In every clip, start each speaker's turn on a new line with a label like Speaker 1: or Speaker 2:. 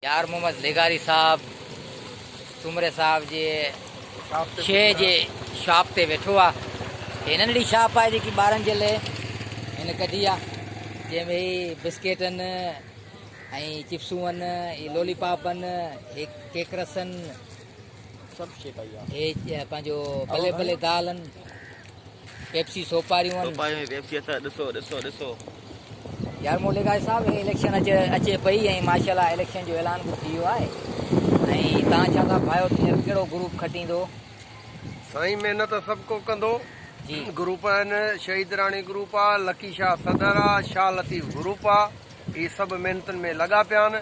Speaker 1: يار محمد لغاري صاحب سومري صاحب جي شيء جي شاپ تي ويٺو آ هي ننڍڙي شاپ آهي جيڪي ٻارن جي لئي هن ڪڍي آ جنهن ۾ هي بسڪيٽن ۽ چپسون هي لولي پاپن هي ڪيڪرسن
Speaker 2: هي پنهنجو
Speaker 1: پلي پلي دال هن پيپسي سوپاريون هن سوپاريون هي پيپسي اثر ڏسو
Speaker 2: ڏسو ڏسو يار
Speaker 1: مولي گاهي صاحب هي اليڪشن اچي اچي پئي ۽ ماشاء الله اليڪشن جو اعلان به ٿي ويو آهي ۽ تان ڇا ٿا ڀايو ٿيڻ ڪهڙو گروپ کٽيندو سائين
Speaker 3: محنت سڀ ڪو ڪندو جي گروپ
Speaker 1: آهن
Speaker 3: شهيد راڻي گروپ آ لڪي شاهه صدر آ شاهه لطيف گروپ آ هي سڀ محنتن ۾ لڳا پيا آهن،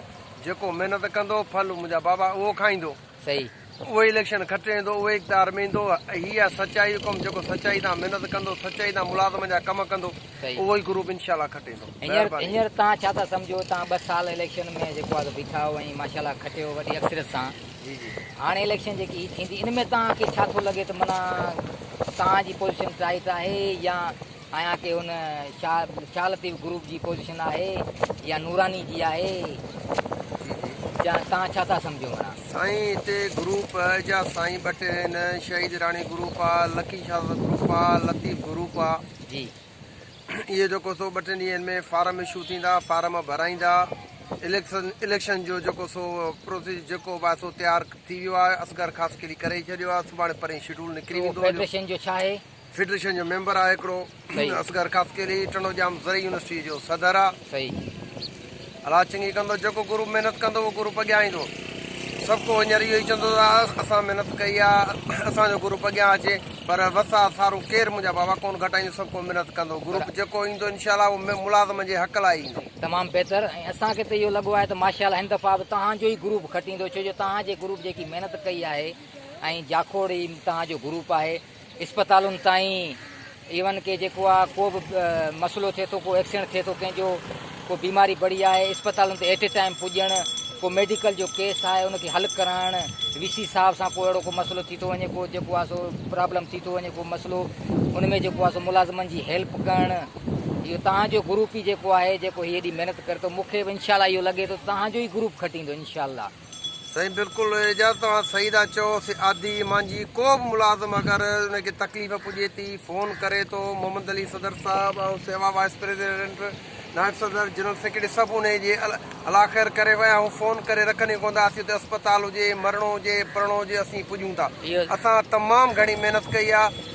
Speaker 3: جيڪو محنت ڪندو، ڦل منهنجا بابا اهو کائيندو. اهو ئي
Speaker 1: اليڪشن
Speaker 3: کٽي ويندو، اهو ئي اقتدار ۾ ايندو. هي آهي سچائي جو ڪم، جيڪو سچائي تان محنت ڪندو، سچائي تان ملازمن جا ڪم ڪندو، اهو ئي گروپ انشاء الله کٽي ويندو. مهرباني. هينئر توهان ڇا
Speaker 1: ٿا سمجهو؟ توهان ٻه سال اليڪشن ۾ جيڪو آهي بيٺا آهيو ۽ ماشاء الله کٽيو وڏي اڪثريت سان. جي جي. هاڻي
Speaker 3: اليڪشن جيڪي هي
Speaker 1: ٿيندي، ان ۾ توهان کي ڇا ٿو لڳي ته معنيٰ توهان جي پوزيشن ٽائيٽ آهي يا آهيان ڪي هن شاهه لطيف گروپ جي پوزيشن آهي يا نوراني جي آهي جا تان ڇا ٿا سمجهو منا. سائين هتي
Speaker 3: گروپ جا سائين ٻه ٽي آهن شهيد راڻي گروپ آ لڪي شاهه گروپ آ لطيف گروپ آ جي
Speaker 1: اهي
Speaker 3: جيڪو سو ٻه ٽن ڏينهن ۾ فارم اشو ٿيندا فارم ڀرائيندا اليڪشن اليڪشن جو جيڪو سو پروسيس جيڪو به آهي سو تيار ٿي ويو آهي اصغر خاصخيلي ڪري ڇڏيو آهي سڀاڻي پرين شيڊول نڪري ويندو فيڊريشن جو ڇا آهي.
Speaker 1: فيڊريشن جو ميمبر
Speaker 3: آ هڪڙو. اصغر ڪافتيلي ٽنڊو ڄام زرعي يونيورسٽي جو صدر آ.
Speaker 1: الاء
Speaker 3: چڱي ڪندو جيڪو گروپ محنت ڪندو اهو گروپ اڳيان ايندو. سڀ ڪو هينئر اهو ئي چوندو ته اسان محنت ڪئي آ اسان جو گروپ اڳيان اچي پر وسا سارو ڪير منهنجا بابا ڪونه گهٽائيندو سڀ ڪو محنت ڪندو گروپ جيڪو ايندو انشاء الله اهو ملازمن جي حق لاء ئي ايندو. تمام بهتر ۽
Speaker 1: اسان کي ته اهو لڳو آهي ته ماشاء الله هن دفعا به توهان جو ئي گروپ گهٽ ايندو ڇو جو توهان جي گروپ جيڪي محنت ڪئي آهي ۽ جاکوڙ ئي توهان جو گروپ آهي. اسپتالن تائين ايون ڪي جيڪو آ ڪو به مسئلو ٿئي ٿو ڪو ايڪسيڊنٽ ٿئي ٿو ڪنهن جو ڪو بيماري بڙي آهي اسپتالن تي ايٽ اي ٽائيم پڄڻ ڪو ميڊيڪل جو ڪيس آهي ان کي حل ڪرائڻ وي سي صاحب سان ڪو اهڙو ڪو مسئلو ٿي ٿو وڃي ڪو جيڪو آ سو پرابلم ٿي ٿو وڃي ڪو مسئلو ان ۾ جيڪو آ سو ملازمن جي هيلپ ڪرڻ اهو تهان جو گروپ ئي جيڪو آهي جيڪو هي ايڏي محنت ڪري ٿو مونکي به انشاء الله اهو لڳي ٿو تهان جو ئي گروپ کٽيندو انشاء الله سائين بلڪل
Speaker 3: اعجاز توهان صحيح ٿا چئو سعادي ايمان جي ڪو به ملازم اگر ان کي تڪليف پڄي ٿي فون ڪري ٿو محمد علي صدر صاحب ۽ سيوا وائيس پريزيڊنٽ نائب صدر جنرل سيڪريٽري سڀ انهي جي الاخير ڪري ويا آهيون فون ڪري رکن ئي ڪون ٿا اسين اتي اسپتال هجي مرڻو هجي پرڻو هجي اسين پڄون ٿا اسان تمام گهڻي محنت ڪئي آهي